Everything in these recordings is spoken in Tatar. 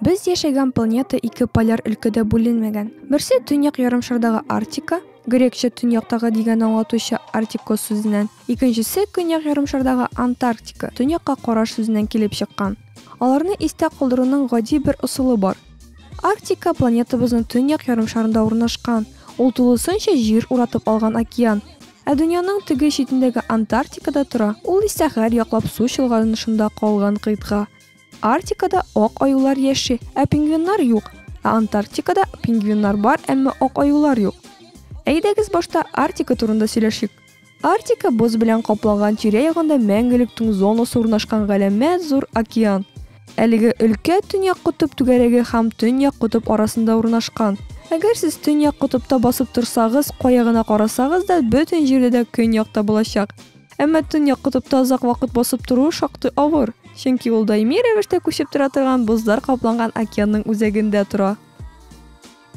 Без яшәгән планета ике поляр өлкәдә бүленмәгән. Берсе төньяк ярымшардагы Арктика, грекча төньяктагы дигән аңлатучы Арктикос сүзеннән, икенчесе көньяк ярымшардагы Антарктика, төньякка караш сүзеннән килеп чыккан. Аларны истә калдыруның гади бер ысулы бар. Арктика планетабызның төньяк ярымшарында урнашкан. Ул тулысынча җир уратып алган океан. Ә дөньяның теге читендәге Антарктикада тора, ул исә гәрь яклап су чолганышында калган кыйтга. Арктикада ак аюлар яши, ә пингвиннар юк. Ә Антарктикада пингвиннар бар, әмма ак аюлар юк. Әйдәгез башта Арктика турында сөйләшик. Арктика боз белән капланган тирә-ягында мәңгелек туң зонасы урнашкан галәмәт зур океан. Әлеге өлкә Төньяк котып түгәрәге һәм Төньяк котып арасында урнашкан. Әгәр сез төньяк котыпта басып торсагыз, кая гына карасагыз да, бөтен җирдә дә көньякта булачак. Әмма төньяк котыпта озак вакыт басып тору шактый авыр, чөнки ул даими рәвештә күчеп тора торган бозлар капланган океанның үзәгендә тора.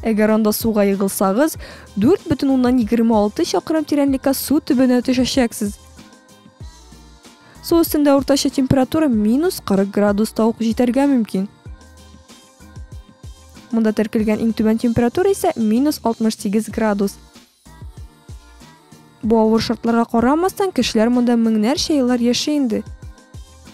Әгәр анда суга егылсагыз, 4,26 чакрым тирәнлеккә су төбенә төшәчәксез. Су өстендә уртача температура минус 40 градус та ук җитәргә мөмкин. Монда теркелгән иң түбән температура исә минус 68 градус. Бу авыр шартларга карамастан, кешеләр монда меңнәрчә еллар яши инде.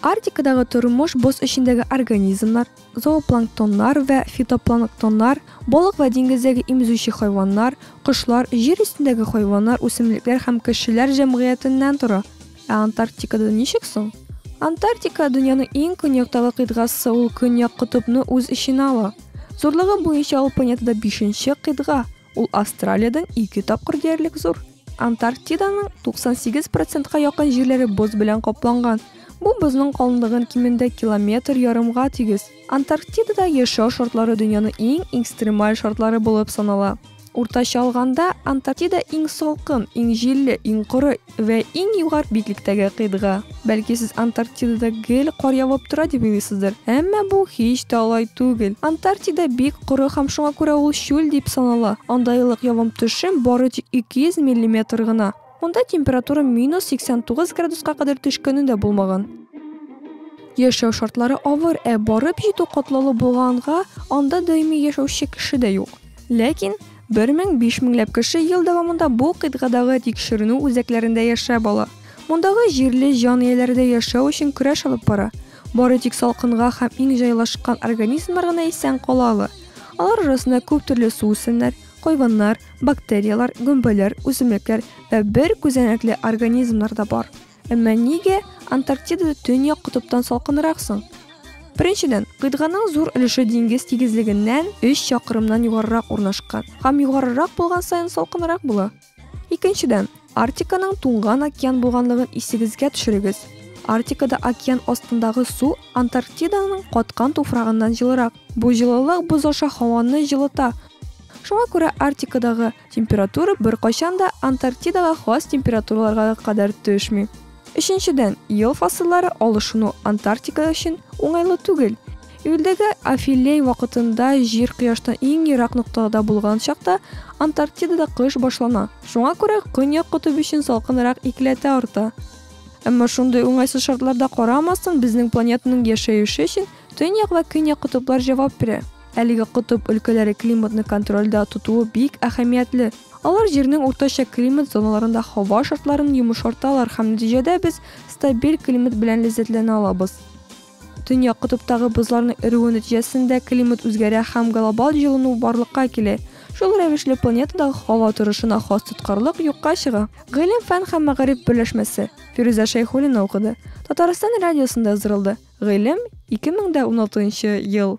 Арктикадагы тормыш боз эчендәге организмнар, зоопланктоннар вә фитопланктоннар, балык вә диңгездәге имзүче хайваннар, кошлар, җир өстендәге хайваннар, үсемлекләр һәм кешеләр җәмгыятеннән тора. Ә Антарктикада ничек соң? Антарктика, дөньяның иң көньяктагы кыйтгасы, ул Көньяк котыбны үз эченә ала. Зурлыгы буенча ул планетада бишенче кыйтга. Ул Австралиядән ике тапкыр диярлек зур. Антарктиданың 98 процентка якын җирләре боз белән капланган. Бу бозның калынлыгын кимендә километр ярымга тигез. Антарктидада яшәү шартлары дөньяны иң экстремаль шартлары булып санала. Уртача алганда, Антарктида иң салкын, иң җилле, иң коры, Вә иң югар битлектәге кыйтга. Бәлки сез Антарктидада гел кар явып тора дип уйлыйсыздыр. Әмма бу һич тә алай түгел. Антарктида бик коры һәм шуңа күрә ул чүл дип санала. Анда еллык явым-төшем бары тик 200 миллиметр гына. Монда температура минус 89 градуска кадәр төшкәне дә булмаган. Яшәү шартлары авыр, ә барып җитү катлаулы булганга, анда даими яшәүче кеше дә юк. Ләкин Бер мең, биш меңләп кеше ел дәвамында бу кыйтгадагы тикшеренү үзәкләрендә яшәп ала. Мондагы җирле җан ияләре дә яшәү өчен көрәш алып бара. Бары тик салкынга һәм иң җайлашкан организмнар гына исән кала ала. Алар арасында күп төрле суүсемнәр, хайваннар, бактерияләр, гөмбәләр, үсемлекләр вә бер күзәнәкле организмнар да бар. Әмма нигә Антарктидада төньяк котыптан салкынрак соң? Беренчедән, кыйтганың зур өлеше диңгез тигезлегеннән 3 чакрымнан югарырак урнашкан һәм югарырак булган саен салкынрак була. Икенчедән, Арктиканың туңган океан булганлыгын исегезгә төшерегез. Арктикада океан астындагы су Антарктиданың каткан туфрагыннан җылырак. Бу җылылык боз аша һаваны җылыта. Шуңа күрә Арктикадагы Температура беркайчан да Антарктидага хас температураларга кадәр төшми. Өченчедән, ел фасыллары алышыну Антарктика өчен уңайлы түгел. Июльдәге афилей вакытында җир кояштан иң ерак ноктада булган чакта Антарктидада кыш башлана. Шуңа күрә көньяк котып өчен салкынрак икеләтә арта. Әмма шундый уңайсыз шартларда карамастан, безнең планетаның яшәеше өчен төньяк вә көньяк котыплар җавап бирә. Әлеге котып өлкәләре климатны контрольдә тотуы бик әһәмиятле. Алар Җирнең уртача климат зоналарында һава шартларын йомышарталар һәм нәтиҗәдә без стабиль климат белән ләззәтләнә алабыз. Төньяк котыптагы бозларның эрүе нәтиҗәсендә климат үзгәрә һәм глобаль җылыну барлыкка килә. Шул рәвешле планетадагы һава торышына хас тоткарлык юкка чыга. Гыйлем-фән һәм мәгариф берләшмәсе, Фирүзә Шәйхуллина укыды, Татарстан радиосында уздырылды, гыйлем, 2016 ел.